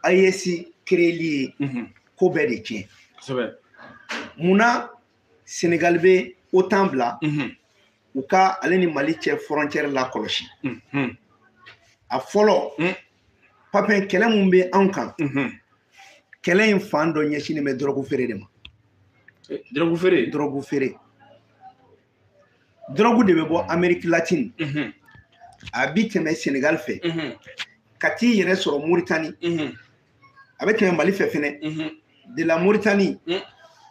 AES kereli ye ko bɛɛ de tiɲɛ kosɛbɛ munna senegali bɛ otan bila u ka ale ni mali cɛ fɔrɔncɛri lakɔlɔsi a fɔlɔ papi kɛlɛ min bɛ anw kan kɛlɛ in fan dɔ ɲɛsinnen bɛ dɔrɔgu feere de ma dɔrɔgu feere dɔrɔgu feere dɔrɔgu de bɛ bɔ ameriki latini mhm. a bi tɛmɛ senegal fɛ mhm. ka t'i yɛrɛ sɔrɔ moritani mhm. a bɛ tɛmɛ mali fɛ fɛnɛ de la moritani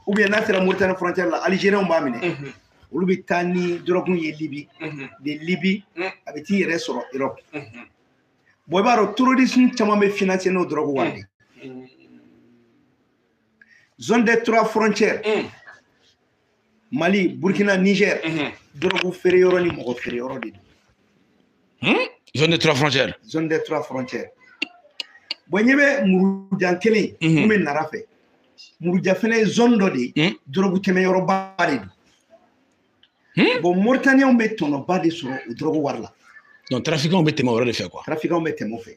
ou bien n'a sera moritani frontière la algérienw b'a minɛ olu bɛ taa ni dɔrɔgu ye libi de libi a bɛ t'i yɛrɛ sɔrɔ europe bɔn i b'a dɔn terrorisme caman bɛ financer n'o dɔrɔgu wari de zone des trois frontières mali burkina niger dɔrɔgu feere yɔrɔ ni mɔgɔ feere yɔrɔ de don zone des trois frontières zone des trois frontières bɔn ɲɛ bɛ muruja kelen mun bɛ nara fɛ muruja fɛnɛ ye zone dɔ de ye dɔrɔgu tɛmɛ yɔrɔba de don bɔn moritaniyɛnw bɛ tɔnɔba de sɔrɔ o dɔrɔgu wari la donc trafikanw bɛ tɛmɛ o yɔrɔ de fɛ quoi trafikanw bɛ tɛmɛ o fɛ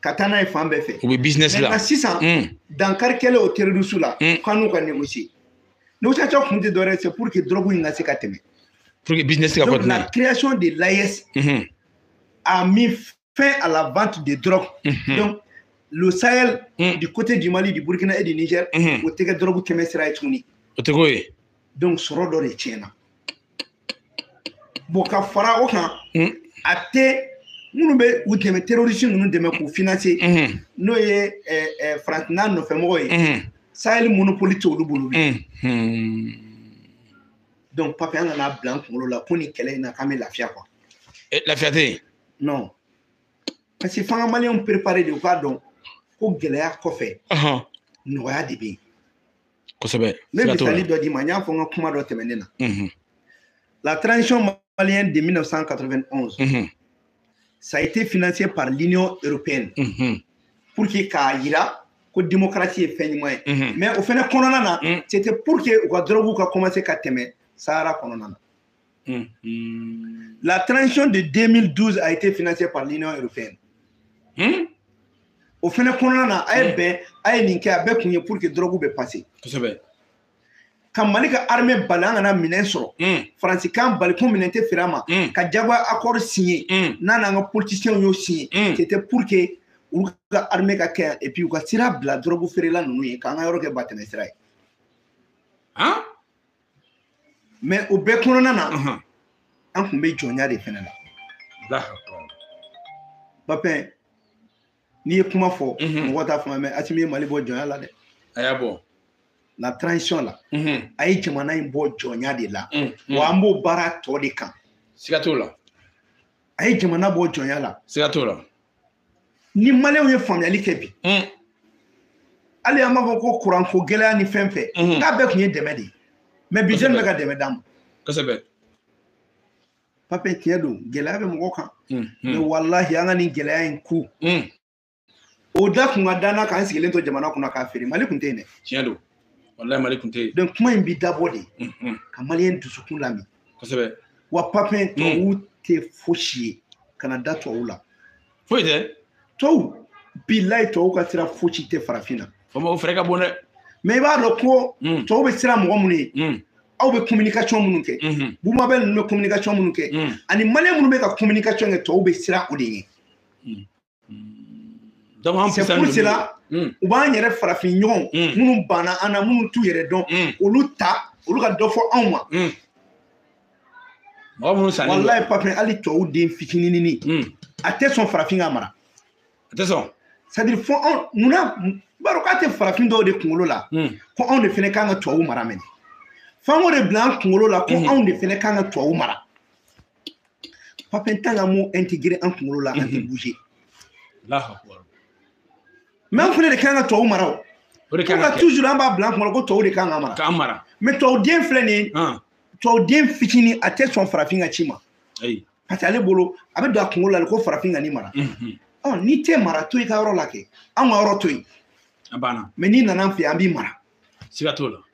ka taa n'a ye fan bɛɛ fɛ u bɛ business la sisan mm. dankari kɛlen o terroriste la mm. k'an n'u ka négocier négociation kun tɛ dɔwɛrɛ c'est pour que drogue in ka se ka tɛmɛ pour que business ka continuer donc la création de l'AES mm-hmm. a mis fin à la vente de drogue mm-hmm. donc le Sahel mm. du côté du Mali du Burkina et du Niger mm-hmm. o tɛ kɛ drogue tɛmɛ sira ye tuguni o tɛ k'o ye donc sɔrɔ dɔ de tiɲɛna bon ka fara o kan hmm. acteur minnu bɛ u dɛmɛ terroriste ninnu dɛmɛ k'u financer hmm. n'o ye eh, eh, faransi n'a nɔfɛmɔgɔ ye hmm. sahel monopole tɛ olu bolo donc papi an kan'a bila an kunkolo la ko nin kɛlɛ in na k'an bɛ lafiya quoi eh, lafiya tɛ yen non parce que f'an ka maliyɛnw préparer de u k'a dɔn ko gɛlɛya kɔfɛ nɔgɔya de bɛ yen kosɛbɛ ne misali dɔ d'i ma n y'a fɔ n ka kuma dɔ tɛmɛnen na mhm. la transition malienne de 1991 mhm. ça a été financé par l'union européenne mhm. pour que k'a yira ko démocratie ye fɛn ɲuman ye mais o fɛnɛ kɔnɔna na c'était pour que u ka drogue ka commencer ka tɛmɛ sahara kɔnɔna na Hmm. La transition de 2012 a été financée par l'Union européenne. Hmm? O fɛnɛ kɔnɔna na a ye bɛn a ye nin kɛ a bɛɛ kun ye pour que drogue bɛ passer. Kosɛbɛ. Ka Mali ka armée bali an kana minɛn sɔrɔ. Hmm. Faransi k'an bali ko minɛn tɛ feere an ma. Ka diyagoya accord signé n'a n'an ka politiciens y'o signé. C'était pour que olu ka armée ka kɛ yan et puis u ka sira bila drogue feerela ninnu ye k'an ka yɔrɔ kɛ batɛmɛ sira ye. Hein? mɛ o bɛɛ kɔnɔna na an kun bɛ jɔnya de fɛnɛ la papɛn n'i ye kuma fɔ mɔgɔ t'a faamu mɛ asimi ye mali bɔ jɔnya la dɛ a y'a bɔ la transition la a ye jamana in bɔ jɔnya de la wa an b'o baara tɔ de kan siga t'o la a ye jamana bɔ jɔnya la siga t'o la ni maliyɛnw ye faamuyali kɛ bi hmm. hali an b'a fɔ ko kuranko gɛlɛya ni fɛn fɛn hmm. k'a bɛɛ kun ye dɛmɛ de ye mɛ bi jɛni bɛ ka dɛmɛ d'an ma kosɛbɛ papɛn tiɲɛ don gɛlɛya bɛ mɔgɔ kan hmm, mɛ walahi an ka nin gɛlɛya in kun o da kun ka d'an na k'an sigilen to jamana kunna k'a feere mali kun tɛ yen dɛ tiɲɛ don walahi mali kun tɛ yen donc kuma in bi dabɔ de ka maliyɛn dusukun lamin kosɛbɛ wa papɛn hmm. tubabuw tɛ fosi ye kana da tubabuw la foyi tɛ tubabu bilayi tubabuw ka sira fosi tɛ farafin na o fɛrɛ ka bon dɛ mɛ i b'a dɔn ko hmm. tubabu bɛ siran mɔgɔ minnu ye hmm. aw bɛ communication minnu kɛ bubu mabɛl ninnu bɛ communication minnu kɛ ani maliyɛn minnu bɛ ka communication kɛ tubabu bɛ siran o de ye C'est pour cela hmm. u b'an yɛrɛ farafin ɲɔgɔnw hmm. minnu banna an na minnu t'u yɛrɛ dɔn hmm. olu ta olu ka dɔ fɔ anw ma mɔgɔ minnu sanna walayi papɛn hali tubabu den fitininini a tɛ sɔn farafin k'a mara a tɛ sɔn c'est à dire fo anw munna b'a dɔn k'a tɛ farafin dɔw de kunkolo la ko anw de fɛnɛ kan ka tubabu mara mɛnɛ f'an k'o de bila an kunkolo la ko anw de fɛnɛ kan ka tubabu mara Papin tant qu'an m'o intégrer an kunkolo la an tɛ mhm. bouger mais an fɛnɛ de kan ka tubabu mara o o de kan ka toujours an b'a bila an kunna ko tubabu de kan ka mara k'an mara mais tubabu den filɛ nin ye tubabu den fitinin a tɛ sɔn farafin ka ci ma parce que ale bolo a bɛ don a kunkolo la ko farafin kan ni mara mhm. ɔ n'i tɛ mara to i ka yɔrɔ la kɛ anw ka yɔrɔ to yen a banna mais n'i nana an fɛ an b'i mara siga t'o la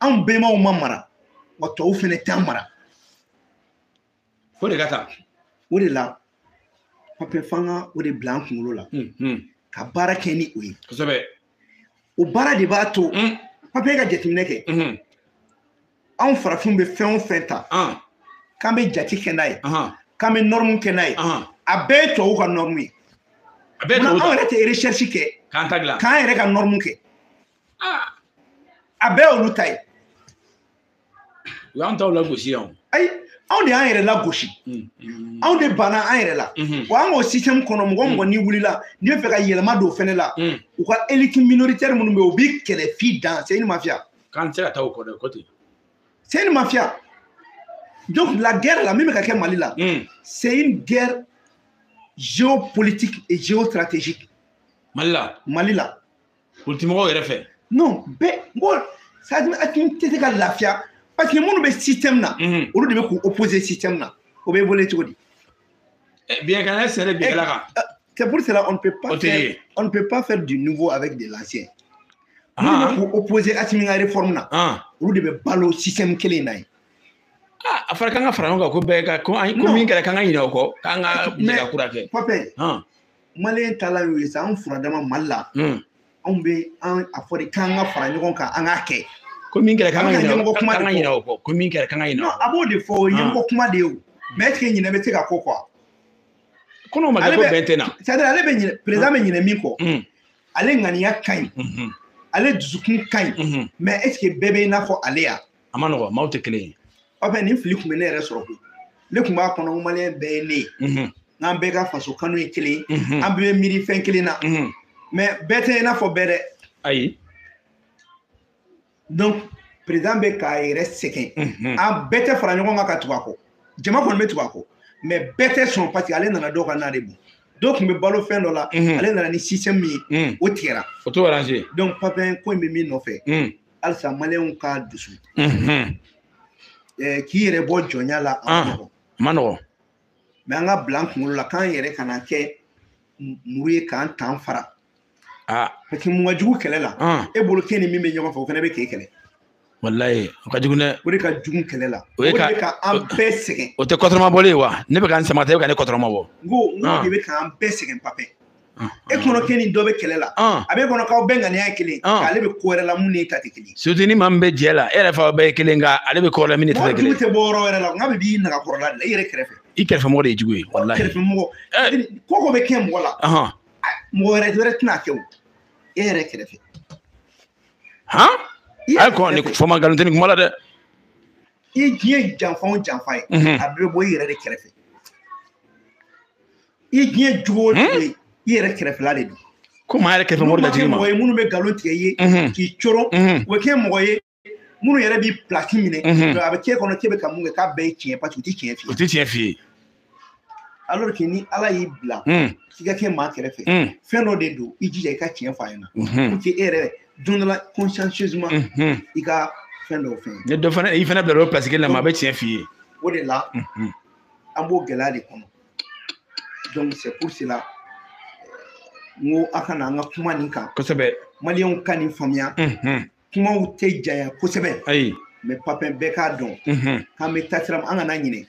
anw bɛnbaw ma mara wa tubabuw fɛnɛ t'an mara f'o de ka taa o de la papɛn f'an ka o de bila an kunkolo la ka baara kɛ ni o ye kosɛbɛ o baara de b'a to papɛn ka jateminɛ kɛ anw farafinw bɛ fɛn o fɛn ta k'an bɛ jate kɛ n'a ye k'an bɛ nɔrɔmu kɛ n'a ye a bɛɛ ye tubabuw ka nɔrɔmu ye a bɛɛ tubabuw anw yɛrɛ tɛ eresɛrisi kɛ k'an ta dilan k'an yɛrɛ ka nɔrɔmu kɛ a bɛɛ olu ta ye u y'an taw lagosi yan ayi anw de y'an yɛrɛ lagosi anw de banna an yɛrɛ la wa an ka système kɔnɔ mɔgɔ o mɔgɔ n'i wulila n'i bɛ fɛ ka yɛlɛma don fɛnɛ la u ka élite minoritaire minnu bɛ yen u b'i kɛlɛ f'i dan c'est une mafia k'an tɛ se ka taa o kɔ dɛ o kɔ ten c'est une mafia donc la guerre la min bɛ ka kɛ Mali la c'est une guerre géopolitique et géostratégique Mali la Mali la politimɔgɔw yɛrɛ fɛ non bɛɛ mɔgɔ sadimi hakili tɛ se ka lafiya parce que minnu bɛ système na mhm. olu de bɛ k'u opposer système na o bɛ wele cogo di eh, bien kana sɛnɛ eh, bɛɛ la kan eh, c'est pour cela on ne peut pas faire on ne peut pas faire du nouveau avec de l'ancien ah. minnu bɛ k'u opposer Assimi ka réforme na ah. olu de bɛ balo système kelen in na yen ah, a fɔra k'an ka fara ɲɔgɔn kan ko bɛɛ ka ko min kɛra k'an ka ɲinɛ o kɔ k'an ka jɛgɛ kura kɛ. maliyɛn taala y'o ye sa an furadama mali la hmm. anw bɛ an a fɔ de k'an ka fara ɲɔgɔn kan an k'a kɛ ko min kɛra k'an ka ɲinɛ o kuma de kɔ ko min kɛra k'an ka ɲinɛ o a b'o de fɔ o ye ɲɛmɔgɔ ah. kuma de ye o mais est-ce que ɲinɛ bɛ se ka k'o kɔ ko n'o ma kɛ ko bɛn tɛ na c'est à dire ale bɛ ɲinɛ président bɛ ɲinɛ min kɔ hmm. ale ŋaniya ka ɲi hmm. ale dusukun ka ɲi mais est-ce que bɛɛ bɛ i n'a fɔ ale ya a ma nɔgɔ maaw tɛ kelen ye papin nin fili tun bɛ ne yɛrɛ sɔrɔ koyi ne tun b'a kɔnɔ maliyɛn bɛɛ ye ne ye k'an bɛɛ ka faso kanu ye kelen an bɛɛ bɛ miiri fɛn kelen na mais bɛɛ tɛ i n'a fɔ bɛɛ dɛ ayi donc président bɛ k'a yɛrɛ sɛgɛn an bɛɛ tɛ fara ɲɔgɔn kan ka tugu a kɔ jama kɔni bɛ tugu a kɔ mais bɛɛ tɛ sɔn parce que ale nana dɔw ka na de bon dɔw tun bɛ balo fɛn dɔ la ale nana ni système min ye o tigɛra o t'o arranger donc papin ko in bɛ min nɔfɛ halisa maliyɛnw ka dusu k'i yɛrɛ bɔ jɔnya la a ah, ma nɔgɔ mais an k'a bila an kunkolo la k'an yɛrɛ kana kɛ muru ye k'an tan fara ah. parce que mun ka jugu kɛlɛ la ah. e bolo k'e ni min bɛ ɲɔgɔn fɛ o fana bɛ k'e kɛlɛ walayi o ka jugu dɛ o de ka jugu kɛlɛ la o de bɛ ka an bɛɛ sɛgɛn o tɛ kɔtɔrɔma bɔlen ye wa ne bɛ ka n sama ka taa e bɛ ka ne kɔtɔrɔma bɔ n ko n ko de bɛ k'an bɛɛ sɛgɛn papɛ e kɔnɔ k'e ni dɔ bɛ kɛlɛ la a b'e kɔnɔ k'aw bɛɛ ŋaniya ye kelen ale bɛ ko wɛrɛ la min n'i ta tɛ kelen surtout ni maa min bɛ jɛ la e yɛrɛ f'a bɛɛ ye kelen nka ale bɛ ko wɛrɛ la min ta tɛ kelen mɔgɔ tɛ bɔ yɔrɔ wɛrɛ la nk'a bɛ b'i nagakɔrɔla de la i yɛrɛ kɛrɛfɛ i kɛrɛfɛ mɔgɔ de ye jugu ye walahi kɛrɛfɛ mɔgɔ ko o ko bɛ kɛ mɔgɔ la mɔgɔ wɛrɛ wɛrɛ tɛn'a kɛ o e yɛrɛ kɛrɛfɛ han ayi kɔn ni fɔ ma nkalon tɛ nin kuma la dɛ i diɲɛ janfa o janfa ye a bɛɛ bɛ bɔ i yɛrɛ de kɛrɛfɛ i diɲɛ jogo o jogo ye i yɛrɛ kɛrɛfɛla de don komi an yɛrɛ kɛrɛfɛ mɔgɔ latigi ma mɔgɔ ye minnu bɛ nkalon tigɛ i ye k'i coron u bɛ kɛ mɔgɔ ye minnu yɛrɛ b'i pilasi minɛ a bɛ k'e kɔnɔ k'e bɛ ka min kɛ k'a bɛɛ ye tiɲɛ parce que u tɛ tiɲɛ f'i ye u tɛ tiɲɛ f'i ye alors que ni ala y'i bila k'i ka kɛ maa kɛrɛfɛ fɛn dɔ de don i jija i ka tiɲɛ f'a ɲɛna pour que e yɛrɛ don dɔ la consciencieusement i ka fɛn dɔw fɛn ye dɔ fana i fana bila o pilasi kelen na maa bɛ tiɲɛ f'i ye o de la an b'o gɛlɛya de kɔnɔ donc c'est pour cela n ko a kana an ka kuma nin kan kosɛbɛ maliyɛnw ka nin faamuya kumaw tɛ janya kosɛbɛ ayi mais papin bɛɛ k'a dɔn k'an bɛ taa sira an kana ɲinɛ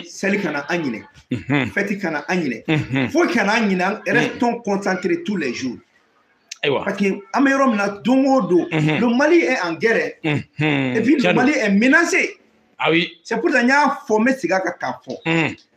seli kana an ɲinɛ fête kana an ɲinɛ foyi kana an ɲinɛ restons concentrés tous les jours ayiwa parce que an bɛ yɔrɔ min na don o don le mali est en guerre et puis le mali est menacé ah oui c'est pour ça n y'a fɔ n bɛ segin a kan k'a fɔ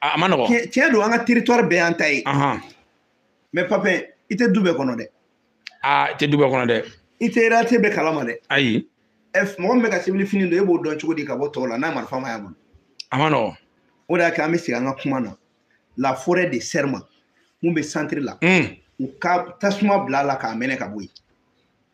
a ma nɔgɔ tiɲɛ don an ka territoire bɛɛ y'an ta ye mais papin i tɛ du bɛɛ kɔnɔ dɛ aa i tɛ du bɛɛ kɔnɔ dɛ i tɛ réalité bɛɛ kalama dɛ ayi mɔgɔ min bɛ ka civil fini don e b'o dɔn cogo di ka bɔ tɔw la n'a marifa ma y'a bolo a ma nɔgɔ o de y'a kɛ an bɛ segin an ka kuma na la forêt de serma min bɛ centre la u ka tasuma bila a la k'a mɛnɛ ka bɔ yen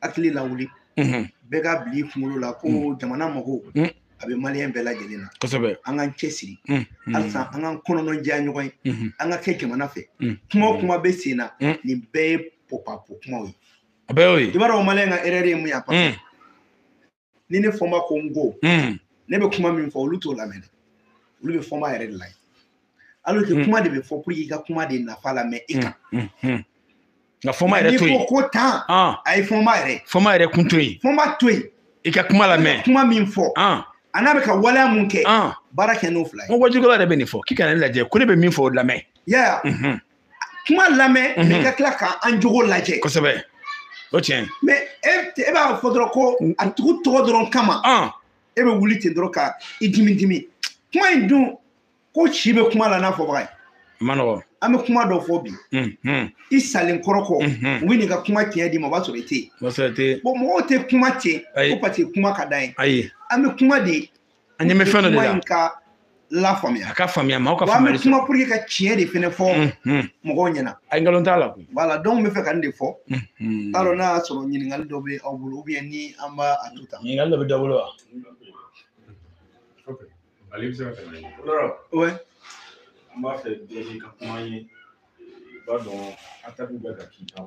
hakili lawuli bɛɛ k'a bila i kunkolo la ko mm. jamana mago mm. a bɛ maliyɛn bɛɛ lajɛlen na kosɛbɛ an k'an cɛ siri mm. halisa an k'an kɔnɔnɔ diya ɲɔgɔn ye mm-hmm. an ka kɛ jamana fɛ kuma o kuma bɛ sen na nin bɛɛ ye popapo kumaw ye a bɛɛ y'o ye i b'a dɔn maliyɛn ka erreur ye mun ye a ni ne fɔnba ko n ko hmm. ne bɛ kuma min fɔ olu t'o lamɛn dɛ olu bɛ fɔnba yɛrɛ de lajɛ alors que hmm. kuma de bɛ fɔ pour que i ka kuma de nafa lamɛn i kan nka fɔnba yɛrɛ to yen n'i ko ko tan ah. a ye fɔnba yɛrɛ fɔnba yɛrɛ kun to yen fɔnba to yen i ka kuma lamɛn kuma min fɔ ah. a n'a bɛ ka waleya min kɛ ah. baara kɛ n'o fila ye n ko wajukɛla yɛrɛ bɛ nin fɔ k'i kana ne lajɛ ko ne bɛ min fɔ o lamɛn yaya kuma lamɛn mais i ka tila ka an jogo lajɛ kosɛbɛ o tiɲɛ mais e, e b'a fɔ dɔrɔn ko a tigi tɔgɔ dɔrɔn kama uh. e bɛ wuli ten dɔrɔn ka i dimi dimi kuma in dun ko si bɛ kuma la n'a fɔbaga ye ma nɔgɔ an bɛ kuma dɔ fɔ bi i salen kɔrɔ kɔ u bɛ n'i ka kuma tiɲɛ d'i ma o b'a sɔrɔ i tɛ yen bon mɔgɔw tɛ kuma ten ko parce que kuma ka d'an ye ayi an bɛ kuma de an ɲɛ bɛ fɛn dɔ de la ka lafaamuya a ka faamuya maaw ka faamuyali sɔrɔ kuma pour que ka tiɲɛ de fɛnɛ fɔ mɔgɔw ɲɛna ayi nkalon t'a la koyi voilà donc n bɛ fɛ ka nin de fɔ k'a dɔn n'a y'a sɔrɔ ɲininkali dɔ bɛ aw bolo ou bien ni an b'a a to tan ɲininkali dɔ bɛ dɔ bolo wa ale bɛ se ka tɛmɛ ouais an b'a fɛ bɛɛ ka kuma ye i b'a dɔn attaque bɛ ka k'i kan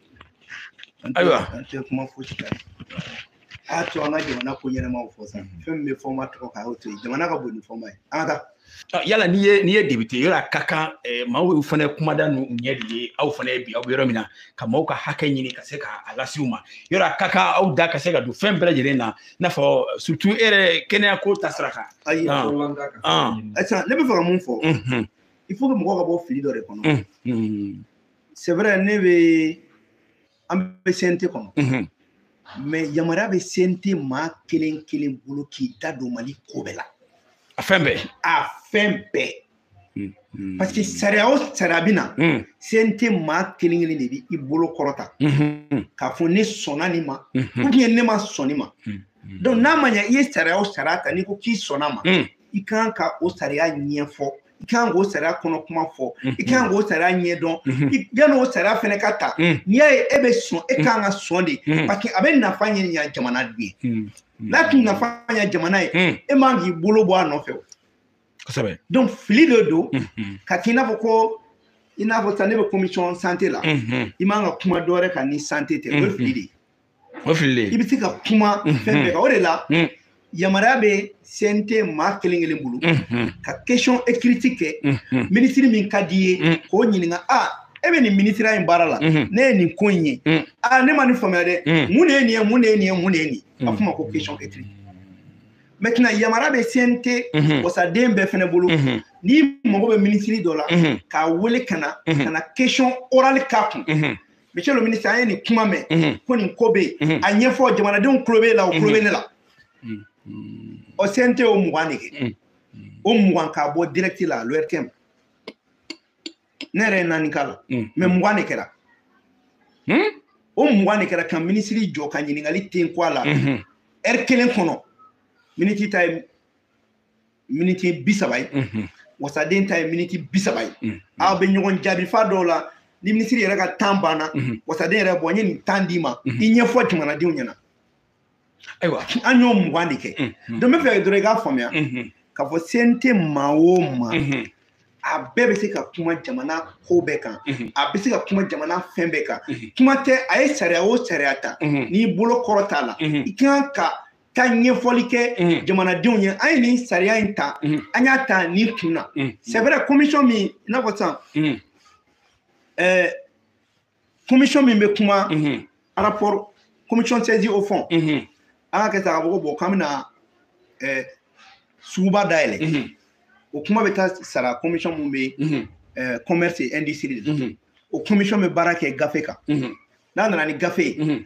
ayiwa an tɛ kuma fosi kan a y'a to an ka jamana ko ɲɛnamaw fɔ sa mhm. fɛn min bɛ fɔnba tɔgɔ kan a y'o to yen jamana ka bon ni fɔnba ye an ka taa yala n'i ye n'i ye député yɔrɔ a ka kan eh, maaw fana kumada n'u ɲɛ de ye aw fana ye bi aw bɛ yɔrɔ min na ka maaw ka hakɛ ɲini ka se ka a lase u ma yɔrɔ a ka kan aw da ka se ka don fɛn bɛɛ lajɛlen na i n'a fɔ surtout e yɛrɛ kɛnɛya ko ta sira kan. ayi ah. ah. ne bɛ fɛ ka mun fɔ. Mhm. il faut que mɔgɔw ka bɔ fili dɔ de kɔnɔ. Mhm. c'est vrai ne bɛ an bɛ CNT kɔnɔ mhm. mais yamaruya bɛ CNT maa kelen kelen bolo k'i da don Mali ko bɛɛ la a fɛn bɛɛ a fɛn bɛɛ mhm. parce que sariya o sariya bɛ na mhm. CNT maa kelen kelen de bɛ i bolo kɔrɔta k'a fɔ ne sɔnna nin ma ou bien ne ma sɔn nin ma donc n'a ma ɲɛ i ye sariya o sariya ta n'i ko k'i sɔnna ma i kan ka o sariya ɲɛfɔ i kan k'o sariya kɔnɔ kuma fɔ i kan k'o sariya ɲɛdɔn yanni o sariya fɛnɛ ka ta n'i y'a ye e bɛ sɔn e kan ka sɔn de parce que a bɛ nafa ɲa jamana de ye n'a tun nafa ɲa jamana ye e man k'i bolo bɔ a nɔfɛ o kosɛbɛ donc fili de don ka k'i n'a fɔ ko i n'a fɔ sisan ne bɛ commission santé la i man ka kuma dɔ wɛrɛ kan ni santé tɛ o ye fili de ye o fili de i bɛ se ka kuma fɛn bɛɛ kan o de la yamaruya bɛ CNT maa kelen kelen bolo ka question écrite kɛ minisiri min ka d'i ye k'o ɲininka a e bɛ nin minisiriya in baara la ne ye nin ko in ye a ne ma nin faamuya dɛ mun de ye nin ye mun de ye nin ye mun de ye nin ye a f'o ma ko question écrite maintenant yamaruya bɛ CNT wasaden bɛɛ fɛnɛ bolo n'i mago bɛ minisiri dɔ la k'a wele ka na ka na question orale k'a kun. monsieur le ministre an ye nin kuma mɛn mhm. ko nin ko bɛ yen mhm. a ɲɛfɔ jamanadenw tulo b'e la o tulo bɛ ne la o CNT y'o mugan de kɛ o mugan k'a bɔ direct la l'ORTM ne yɛrɛ ye naani k'a la mais mugan de kɛra o mugan de kɛra ka minisiri jɔ ka ɲininkali ten ko a la heure kelen kɔnɔ minisiri ta ye miniti bi saba ye wasaden ta ye miniti bi saba ye aw bɛ ɲɔgɔn jaabi f'a dɔw la ni minisiri yɛrɛ ka temps banna wasaden yɛrɛ b'a fɔ n ye nin temps d'i ma i ɲɛfɔ jamanadenw ɲɛna ayiwa an y'o mugan de kɛ donc n b'a fɛ dɔrɔn i k'a faamuya k'a fɔ CNT maa o maa a bɛɛ bɛ se ka kuma jamana ko bɛɛ kan a bɛ se ka kuma jamana fɛn bɛɛ kan kuma tɛ a ye sariya o sariya ta n'i bolo kɔrɔt'a la i kan ka taa ɲɛfɔli kɛ mhm. jamanadenw ye an ye nin sariya in ta mhm. an y'a ta nin kun na mhm. c'est vrai commission min i n'a fɔ sisan ɛɛ eh, commission min bɛ kuma rapport commission saisie au fond an k'a kɛ sa k'a fɔ ko bon k'an bɛna ɛɛ eh, suguba dayɛlɛ o kuma bɛ taa sara commission min bɛ ɛɛ eh, commerce et industrie de la o commission bɛ baara kɛ gafe kan n'a nana ni gafe ye.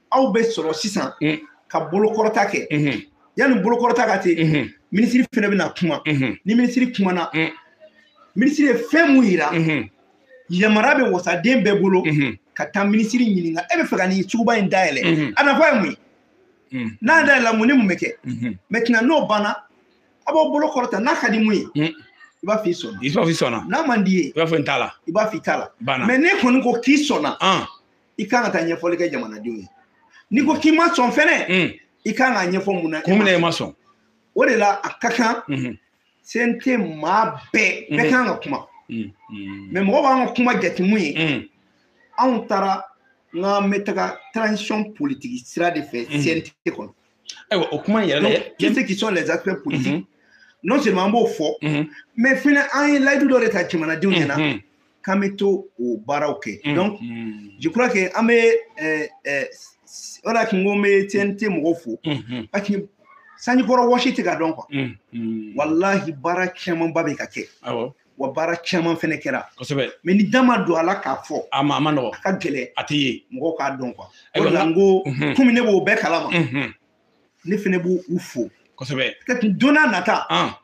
aw bɛ sɔrɔ sisan ka bolokɔrɔta kɛ yanni bolokɔrɔta ka te minisiri fɛnɛ bɛna kuma ni minisiri kumana minisiri ye fɛn mun yira yamara bɛ wasaden bɛɛ bolo ka taa minisiri ɲininka e bɛ fɛ ka nin suguba in dayɛlɛ a nafa ye mun ye n'a dayɛlɛla mun ni mun bɛ kɛ maintenant n'o banna aw b'aw bolo kɔrɔta n'a ka di mun ye i b'a f'i sɔnna i b'a f'i sɔnna n'a man d'i ye i b'a fɔ n t'a la i b'a f'i t'a la mais ne kɔni ko k'i sɔnna i kan ka taa ɲɛfɔli kɛ jamanadenw ye n'i ko k'i ma sɔn fɛnɛ mm. i kan k'a ɲɛfɔ mun na kun min na i ma sɔn o de la a ka kan mm-hmm. cnt maa bɛɛ bɛɛ mm-hmm. kan ka kuma mm, mm. mais mɔgɔ b'an ka kuma jate mun ye mm. anw taara n k'an bɛ taga transition politique sira de fɛ cnt mm-hmm. kɔnɔ ayiwa o kuma in yɛrɛ la qui c'est qui sont les acteurs politiques non seulement an b'o fɔ mais fɛnɛ an ye layidu dɔ de ta jamanadenw ɲɛna k'an bɛ taa o baaraw kɛ mm, donc mm. je crois que an bɛ eh, eh, o de la kun ko n bɛ CNT mɔgɔw fo mm-hmm. parce que sanjikɔrɔ wɔsi tɛ ka dɔn quoi mm, walahi baara camanba bɛ ka kɛ wa baara caman fɛnɛ kɛra kosɛbɛ mais ni da ma don a la k'a fɔ a ma a ma nɔgɔ a ka gɛlɛ a tɛ ye mɔgɔw k'a dɔn quoi o de la n ko mm-hmm. komi ne b'o bɛɛ kalama mm-hmm. ne fɛnɛ b'u u fo kosɛbɛ ka don nata ah.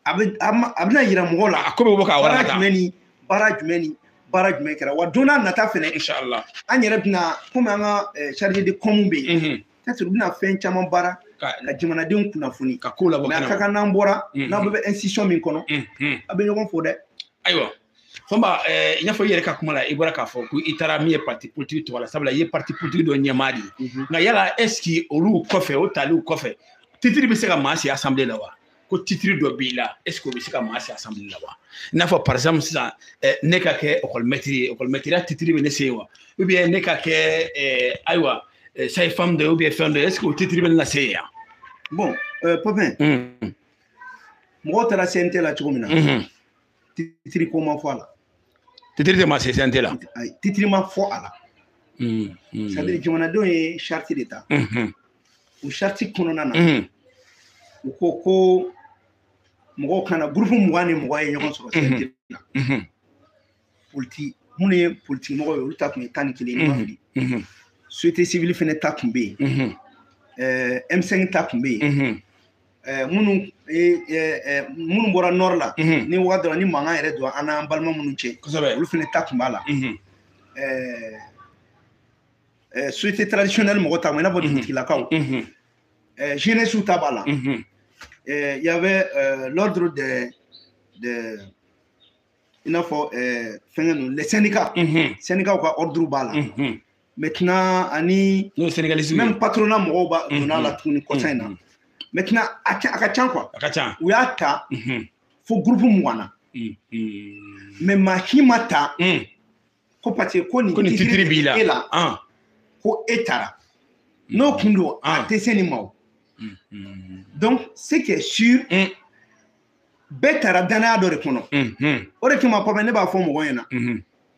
a bɛ a ma- a bɛna yira mɔgɔw la a ko bɛ bɔ k'a wara baara ka taa jumɛn ni baara jumɛn ni baara jumɛn kɛra wa don nata fɛnɛ inshallah an yɛrɛ bɛna komi an ka eh, chargé de com bɛ yen Mhm. peut-être u bɛna fɛn caman baara ka ka jamanadenw kunnafoni ka ko labɔ mais a ka kɛnɛ kan n'an bɔra Mhm. n'aw bɛɛ bɛ institution min kɔnɔ Mhm. a bɛ ɲɔgɔn fo dɛ ayiwa Fomba ɛɛ i n'a fɔ i yɛrɛ ka kuma la i bɔra k'a fɔ ko i taara min ye parti politique tɔgɔ la sabula i ye parti politique dɔ ɲɛmaa de ye nka yala est ce que olu kɔfɛ o taliw kɔfɛ titiri bɛ se ka maa si assemblée la wa ko titiri dɔ b'i la est ce que o bɛ se ka maa se assemblée la wa i n'a fɔ par exemple sisan eh, ne ka kɛ école maître ye école maître ya titiri bɛ ne se yen wa ou bien ne ka kɛ eh, ayiwa eh, sage-femme dɔ ye ou bien fɛn dɔ ye est ce que o titiri bɛ ne lase yen yan. bon euh, Popin mɔgɔw taara cnt la cogo min na. titiri ko ma fɔ a la titiri tɛ maa se cnt la titiri ma fɔ a la c'est-à-dire jamanadenw ye charte de ta o charte kɔnɔna na u ko ko mɔgɔw ka na gurupu mugan ni mɔgɔ ye ɲɔgɔn sɔrɔ cnt la politi minnu ye politiki mɔgɔ ye olu ta tun ye tan ni kelen ni n ma fili société civile fɛnɛ ta tun bɛ yen m5 ta tun bɛ yen Eh, minnu eh, eh, minnu bɔra nord la mhm. ni wagati dɔ la ni mankan yɛrɛ don an n'an balima minnu cɛ olu fɛnɛ ta tun b'a la mhm. société traditionnelle mɔgɔ ta ma i n'a fɔ mhm. dugutigilakaw jeunesse ta b'a la il y avait l'ordre de de i n'a fɔ fɛngɛ ninnu les syndicats syndicats ka ordre b'a la maintenant ani même patronat mɔgɔw ba mm-hmm. donna la tuguni kɔsa in na mm-hmm. maintenant a ka ca quoi a ka ca u y'a ta mm-hmm. fo groupe mugan na mais maa si ma ta mm. ko parce que ko nin titre b'i la e la ah. ko e taara mm. n'o kun don a ah. tɛ se nin ma o donc ce qui est sûr mm. bɛɛ taara danaya dɔ de kɔnɔ o de kama Papa ne b'a fɔ mɔgɔ ɲɛna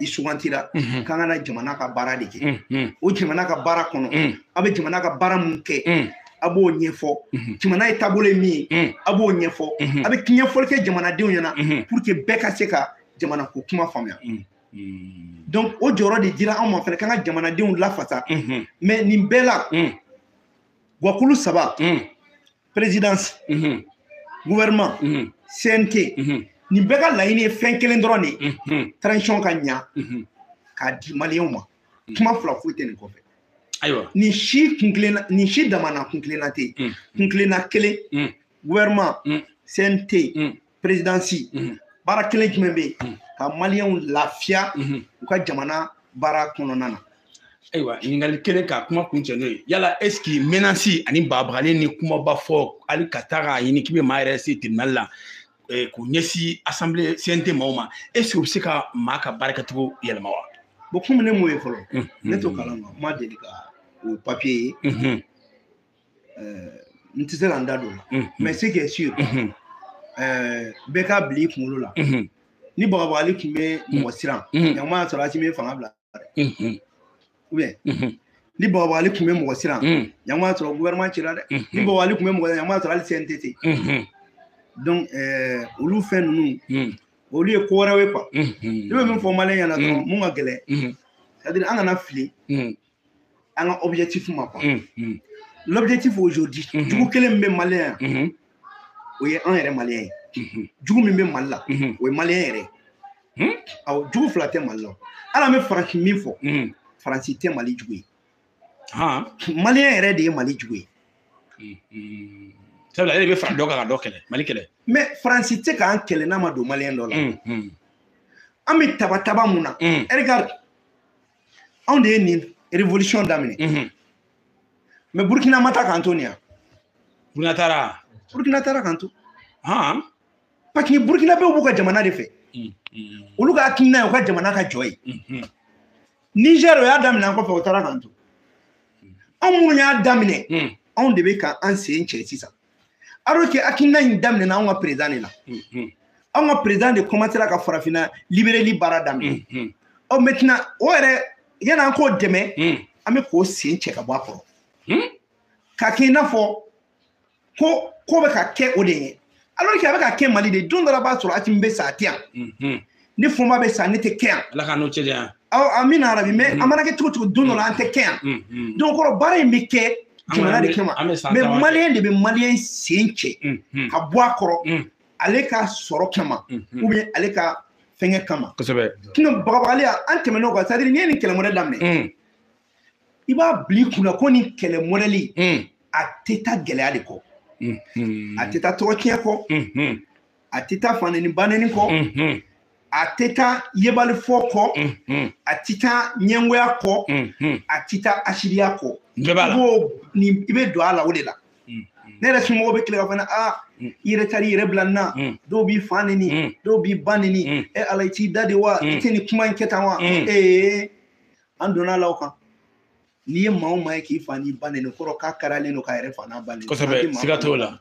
i sugantira k'an ka na jamana ka baara de kɛ o jamana ka baara kɔnɔ a bɛ jamana ka baara mun kɛ a b'o ɲɛfɔ jamana ye taabolo ye min ye a b'o ɲɛfɔ a bɛ ɲɛfɔli kɛ jamanadenw ɲɛna pour que bɛɛ ka se ka jamana ko kuma faamuya donc o jɔyɔrɔ de dira anw ma fana k'an ka jamanadenw lafasa mais nin bɛɛ la gwakulu saba présidence mhm. gouvernement mhm. CNT mhm. nin bɛɛ ka laɲini ye fɛn kelen dɔrɔn de ye transition ka ɲa k'a di maliyɛnw ma kuma fila foyi tɛ nin kɔfɛ ayiwa nin si kunkilenna nin si damana kunkilenna tɛ yen kunkilenna kelen gouvernement CNT perezidansi mhm. baara kelen jumɛn bɛ yen mhm. ka maliyɛnw lafiya mhm. u ka jamana baara kɔnɔna na ayiwa ɲininkali kelen ka kuma kuncɛ n'o ye yala esiki menansi ani bagabagali ni kumaba fɔ hali ka taa k'a ɲini k'i bɛ maa yɛrɛ se tribunali la eh, k'u ɲɛsin asanbile cnt maaw ma esiki u bɛ se ka maa ka baara kɛcogo yɛlɛma wa bɔn komi ne m'o ye fɔlɔ ne t'o kalama n ma deli ka o papiye ye euh, n tɛ se ka n da don o la mhm. mais ce qui est sûr mhm. euh, bɛɛ k'a bila i kunkolo la mhm. ni bagabagali tun bɛ mɔgɔ siran ɲama y'a sɔrɔ asimi ye fanga bila dɛ ou bien ni bagabagali tun bɛ mɔgɔ siran ɲama y'a sɔrɔ gouvernement cira dɛ ni bagabagali tun bɛ mɔgɔ siran ɲama y'a sɔrɔ hali CNT tɛ yen donc euh, olu fɛn ninnu olu ye ko wɛrɛw ye quoi ne bɛ min fɔ maliyɛn ɲɛna dɔrɔn mun ka gɛlɛn c'est à dire an kana fili an ka objectif ma quoi mm, mm. l'objectif aujourd'hui mm-hmm. jugu kelen min bɛ maliyɛn yan mm-hmm. o ye an yɛrɛ maliyɛn ye mm-hmm. jugu min bɛ mali la o ye maliyɛn yɛrɛ ye hmm? awɔ jugu fila tɛ mali la hali an bɛ faransi min fɔ faransi tɛ mali jugu ye maliyɛn yɛrɛ de ye mali jugu ye sabula ale de bɛ fara dɔ kan ka dɔ kɛlɛ mali kɛlɛ mais faransi tɛ k'an kɛlɛ n'a ma don maliyɛn dɔ la an bɛ taba taba mun na regarde anw de ye nin révolution daminɛ mhm. mais burkina ma taa k'an to nin yan burkina taara burkina taara k'an to parce que burkina bɛɛ b'u ka jamana de fɛ mhm, mhm. olu ka hakilina ye u ka jamana ka jɔ ye niger o y'a daminɛ an kɔfɛ o taara k'an to anw minnu y'a daminɛ anw de bɛ ka an sen cɛ sisan alors que hakilina in daminɛna anw ka président de la anw ka président de commencera ka farafinna libéreli baara daminɛ ɔ maintenant o yɛrɛ yanni an k'o dɛmɛ an bɛ k'o sen cɛ ka bɔ a kɔrɔ k'a kɛ i n'a fɔ ko ko bɛ ka kɛ o de ye alors que a bɛ ka kɛ mali de don dɔ la b'a sɔrɔ asimi bɛ sa a tɛ yan ni fɔnba bɛ sa ne tɛ kɛ yan ala ka n'o cɛdɛ yan amina yarabi mais an mana kɛ cogo cogo don dɔ la an tɛ kɛ yan donc kɔrɔ baara in bɛ kɛ jamana de kama mais maliyɛn de bɛ maliyɛn sen cɛ ka bɔ a kɔrɔ ale ka sɔrɔ kama ou bien ale ka fɛngɛ kama kosɛbɛ sinon bagabagaliya an tɛmɛn'o kan c'est-à-dire n'i ye nin kɛlɛ mɔdɛli daminɛ i b'a bila i kunna ko nin kɛlɛ mɔdɛli a tɛ taa gɛlɛya de kɔ a tɛ taa tɔgɔ tiɲɛ kɔ a tɛ taa faneni baneni kɔ a tɛ taa yebalifɔ kɔ a tɛ taa ɲɛngoya kɔ a tɛ taa hasidiya kɔ i b'o nin i bɛ don a la o de la ne yɛrɛ somɔgɔw bɛ tile k'a fɔ ne aa i yɛrɛ taar'i yɛrɛ bila nin na dɔw b'i fa neni dɔw b'i ba neni e ala i t'i da de wa i tɛ nin kuma in kɛ tan wa ee an donn'a la o kan n'i ye maa o maa ye k'i fa n'i ba neni kɔrɔ k'a karalen don k'a yɛrɛ fa n'a ba neni kosɛbɛ siga t'o la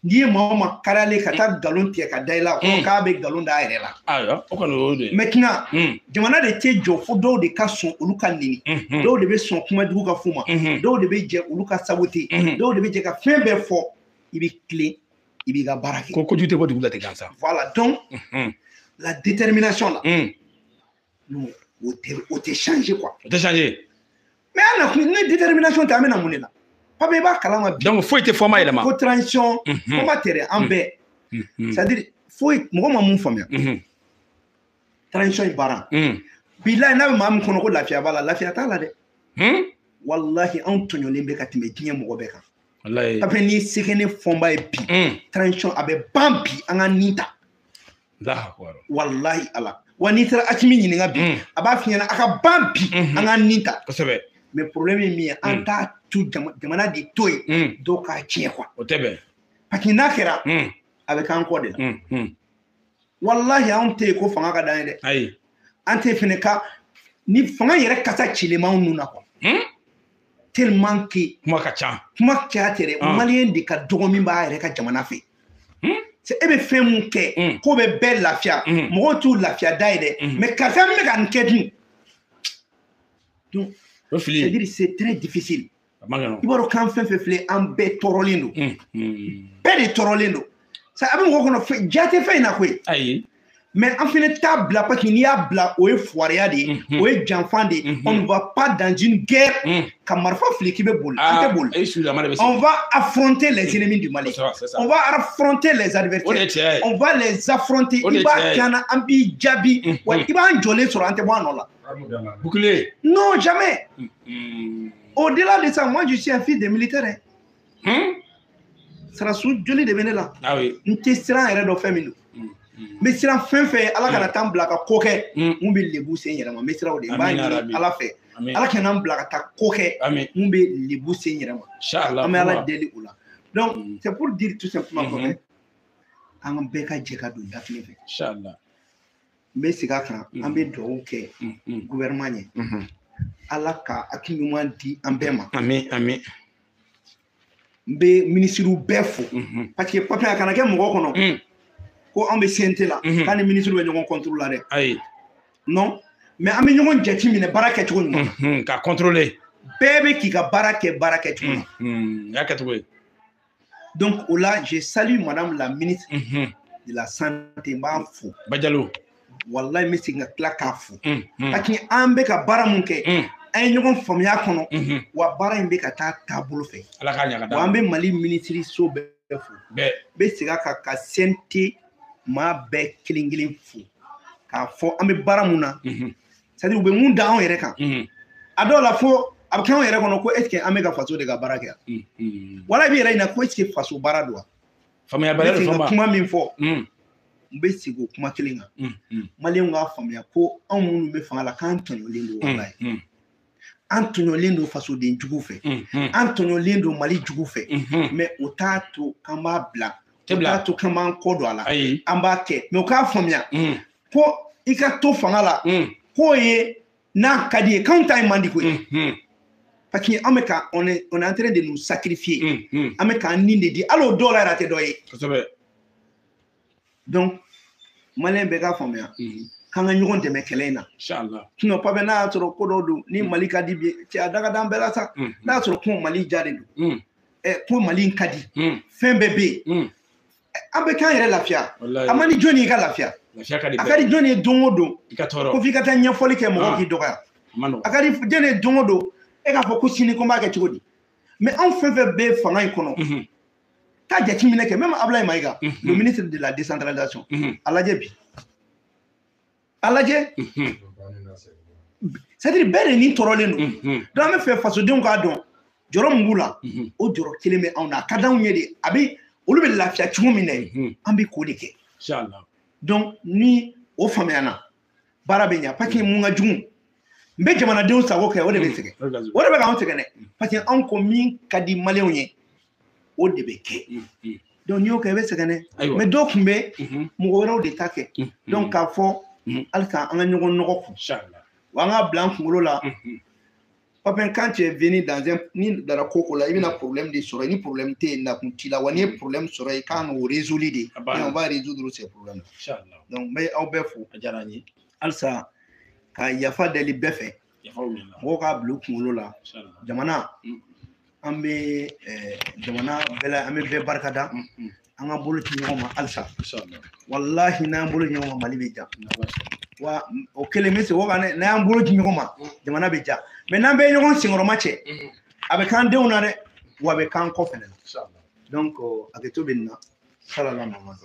n'i ye maa o maa karalen ka taa nkalon tigɛ ka da i la kɔrɔ k'a bɛ nkalon d'a yɛrɛ la ayiwa o kɔni o y'o de ye maintenant jamana de tɛ jɔ fo dɔw de ka sɔn olu ka neni dɔw de bɛ sɔn kuma jugu ka f'u ma dɔw de bɛ jɛ olu ka sabote dɔw de bɛ jɛ ka fɛn bɛɛ fɔ i bɛ tilen i b'i ka baara kɛ ko kojugu tɛ bɔ dugu la ten gansan voilà donc la détermination là non o tɛ o tɛ change quoi o tɛ change mais an na kun ni détermination tɛ an bɛ na mun de la pape i b'a kalama bi donc foyi tɛ fɔnba yɛlɛma ko transition fɔnba tɛ dɛ an bɛɛ c'est à dire foyi mɔgɔ ma mun faamuya transition in baara bilayi n'a bɛ maa min kɔnɔ ko lafiya b'a la lafiya t'a la dɛ walahi anw tɔɲɔlen bɛ ka tɛmɛ diɲɛ mɔgɔ bɛɛ kan pape ni se bɛ ne fɔnba ye bi transition a bɛ ban bi an ka nin ta walahi ala wa n'i taara asimi ɲininka bi mm. a b'a f'i ɲɛna a ka ban bi mm-hmm. an ka nin ta kosɛbɛ mais problème ye min ye an mm. t'a tu jamana de to yen mm. dɔw k'a tiɲɛ quoi o tɛ bɛn parce que n'a kɛra a bɛ k'an kɔ de la walahi anw tɛ yen ko fanga ka d'an ye dɛ ayi an tɛ fɛnɛ ka ni fanga yɛrɛ kasa cilen b'anw nun na quoi tellement que kuma ka ca kuma caya tɛ dɛ ah. maliyɛn de ka dɔgɔ min b'a yɛrɛ ka jamana fɛ hmm? e bɛ fɛn mun kɛ hmm. k'o bɛ bɛɛ lafiya hmm. mɔgɔw t'o lafiya da ye dɛ mais karisa min bɛ ka nin kɛ dun donc c'est-à-dire c'est très difficile i b'a dɔn k'an fɛn fɛn filɛ an bɛɛ tɔɔrɔlen don bɛɛ de tɔɔrɔlen don ça a bɛ mɔgɔ kɔnɔ ja tɛ fɛn in na koyi ayi mais an fɛnɛ t'a bila parce que n'i y'a bila o ye fuwariya de ye mhm. o ye janfan de ye mhm. on ne va pas dans une guerre mhm. ka marifa fili k'i bɛ boli an tɛ ah, boli on va affronter les ennemis du Mali on va affronter les adversaires on va les affronter i b'a kɛ an na an b'i jaabi wa i b'an jɔlen sɔrɔ an tɛ bɔ a nɔ la bouclier non jamais au-delà de ça moi je suis un fils de militaire hein. hmm? sarasu joli de bɛ ne la ah n tɛ siran yɛrɛ dɔn fɛn min don hmm, hmm. n bɛ siran fɛn fɛn ɲɛ ala kana taa n bila ka ko kɛ min bɛ lebu se n yɛrɛ ma n bɛ siran o de ɲɛ n b'a ɲini ala fɛ ala kana n bila ka taa ko kɛ min bɛ lebu se n yɛrɛ ma an bɛ ala deli o la donc c'est pour dire tout simplement ko fo an bɛɛ ka jɛ ka don da kelen fɛ n bɛ segin a kan an bɛ dugawu kɛ gouvernement ɲɛ ala ka hakili ɲuman di an bɛɛ ma amin amin n bɛ minisiriw bɛɛ fo parce que papiye a kana kɛ mɔgɔ kɔnɔ ko an bɛ CNT la k'an ni minisiriw bɛ ɲɔgɔn contrôle la dɛ ayi non mais an bɛ ɲɔgɔn jate minɛ baara kɛcogo ɲuman ka contrôler bɛɛ bɛ k'i ka baara kɛ baara kɛcogo la y'a kɛcogo ye Donc, o la, je salue Madame la ministre mhm. de la Santé, n b'a fo. Badiallo. Wallahi n bɛ segin ka tila k'a fo. Parce que an bɛ ka baara mun kɛ. an ye mhm. ɲɔgɔn faamuya kɔnɔ mhm. wa baara in bɛ ka taa taabolo fɛ wa an bɛ mali minisiri so bɛɛ fo bɛɛ bɛ segin a kan ka CNT maa bɛɛ kelen kelen fo k'a fɔ an bɛ baara mun na c'est à dire u bɛ mun da anw yɛrɛ kan a dɔw la fo a bɛ kɛ anw yɛrɛ kɔnɔ ko est ce que an bɛ ka faso de ka baara kɛ wala i b'i yɛrɛ ɲininka ko est ce que faso baara don wa faamuyabaliya de fɔ kuma min fɔ n bɛ segin o kuma kelen kan maliyɛnw k'a faamuya ko anw minnu bɛ fanga la k'an tɔɲɔlen don walayi an tɔɲɔlen don fasoden jugu fɛ an tɔɲɔlen don mali jugu fɛ mais o t'a to k'an b'a bila o t'a to k'an b'an kɔ don a la an b'a kɛ mais u k'a faamuya ko i ka to fanga la mm. k'o ye n'a ka di ye k'anw ta in man di koyi mm-hmm. parce que an bɛ ka on est on est en train de nous sacrifier mm-hmm. an bɛ k'an ni de di hali o dɔw la yɛrɛ a tɛ dɔ ye donc maliyɛn bɛɛ k'a faamuya mm-hmm. k'an ka ɲɔgɔn dɛmɛ kɛlɛ in na sinon papiye n'a y'a sɔrɔ ko dɔw don ni mm. mali ka di bi cɛ a da ka d'an bɛɛ la sa n'a y'a sɔrɔ ko mali ja de don ko mali in ka di fɛn bɛɛ bɛ yen an bɛ k'an yɛrɛ lafiya a man di jɔni ye ka lafiya a ka di jɔni ye don o don ko f'i ka taa ɲɛfɔli kɛ mɔgɔw ah. k'i dɔgɔya a ka di jɔni ye don o don e k'a fɔ ko sini ko n b'a kɛ cogo di mais anw fɛn fɛn bɛ fanga in kɔnɔ mhm. taa jateminɛ kɛ même abulayi mayiga mhm. le ministre de la décentralisation mhm. a lajɛ bi a lajɛ c'est-à-dire bɛɛ de ni tɔɔrɔlen don donc an b'a fɛ fasodenw k'a dɔn jɔrɔ min b'u la o jɔrɔ kelen bɛ anw na a ka d'anw ye de a bɛ olu bɛ lafiya cogo min na ye an bɛ k'o de kɛ donc ni o faamuyana baara bɛ ɲa parce que mun ka jugu n bɛ jamanadenw sago kɛ o de bɛ sɛgɛn o de bɛ k'anw sɛgɛn dɛ parce que anw ko min ka di maliyɛnw ye o de bɛ kɛ donc n'i y'o kɛ i bɛ sɛgɛn dɛ mais dɔw tun bɛ mɔgɔ wɛrɛw de ta kɛ donc k'a fɔ halisa an ka ɲɔgɔn nɔgɔ kun wa an k'a bila an kunkolo la Papin, quand tu es venu dans un n'i dara ko ko la i bɛna problème de sɔrɔ ni problème tɛ yen nakun t'i la wa n'i ye problème sɔrɔ i kan k'o résoudre de on va résoudre ces problèmes donc n bɛ aw bɛɛ fo a diyara n ye halisa ka yafa deli bɛɛ fɛ mɔgɔw k'a bila u kunkolo la jamana mm. an bɛ eh, jamana bɛɛ la an bɛ bɛɛ barika da mm, mm. an ka bolo di ɲɔgɔn ma halisa walahi n'an y'an bolo di ɲɔgɔn ma mali bɛ diya wa o kelen bɛ se o kan dɛ n'an y'an bolo di ɲɔgɔn ma jamana bɛ diya mais n'an bɛ ɲɔgɔn senkɔrɔma cɛ a bɛ k'an denw na dɛ wa a bɛ k'an kɔ fɛnɛ na donc hakɛto bɛ nin na salala mamadu